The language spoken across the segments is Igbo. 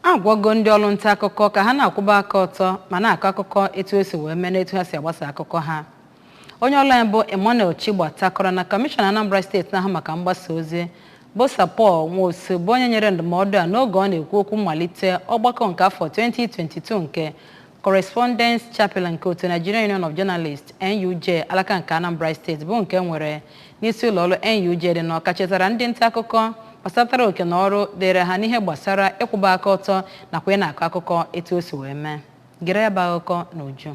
A gwago ndị ọrụ nta akụkọ ka ha na-akwụba aka ọtọ ma na-akọ akụkọ etu o si wee mee na etu ha si agbasa akụkọ ha. Onye ọrụ anyị bụ Emmanuel Chigbata kọrọ na Kọmishọna Anambra steeti na-ahụ maka mgbasa ozi bụ Sir Paul Nwosu bụ onye nyere ndụmọdụ a n'oge ọ na-ekwu okwu mmalite ọgbakọ nke afọ 2022 nke Correspondents Chapel nke otu Nigerian Union of Journalists NUJ alaka nke Anambra steeti bụ nke e nwere n'isi ụlọ ọrụ NUJ dị n'Awka chetara ndị nta akụkọ gbasatara oke na ọrụ dịịrị ha n'ihe gbasara ịkwụba aka ọtọ nakwa ịna-akọ akụkọ etu o si wee mee. Gere ya bụ akụkọ n'uju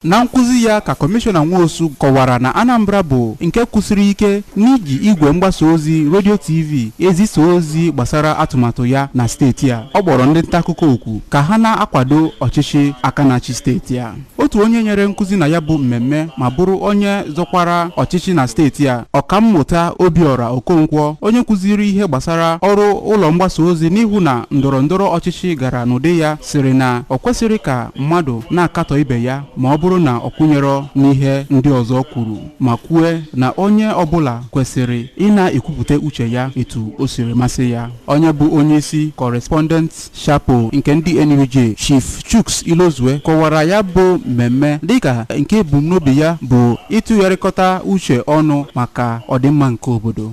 Na nkụzi ya ka Kọmishọna Nwosu kọwara na Anambra bụ nke kwụsiri ike n'iji igwe mgbasa ozi redio TV ezisa ozi gbasara atụmatụ ya na steeti a. Ọ kpọrọ ndị nta akụkọ oku ka ha na-akwado ọchịchị aka na-achị steeti a. Otu onye nyere nkụzi na ya bụ mmemme ma bụrụ onye zọkwara ọchịchị na steeti a, Ọkammụta Obiora Okonkwo, onye kụziri ihe gbasara ọrụ ụlọ mgbasa ozi n'ịhụ na ndọrọ ndọrọ ọchịchị gara n'ụdị ya, sịrị na o kwesịrị ka mmadụ na-akatọ ibe ya ma ọ bụrụ na ọ kwụnyerọ n'ihe ndị ọzọ kwuru ma kwue na onye ọbụla kwesịrị ịna-ekwupụta uche ya etu o siri masị ya onye bụ onye isi Correspondent Chapel nke ndị NUJ Chief Chuks Ilozue kọwara ya bụ mmemme dịka nke ebumnobi ya bụ ịtụgharịkọta uche ọnụ maka ọdịmma nke obodo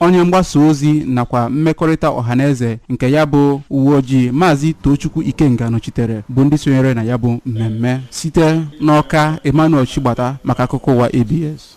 Onye mgbasa ozi nakwa mmekọrịta ọhaneze nke ya bụ uwe ojii Maazị Tochukwu Ikenga nọchitere bụ ndị sonyere na ya bụ mmemme. Site n'Ọka, Emmanuel Chigbata maka akụkọ ụwa ABS.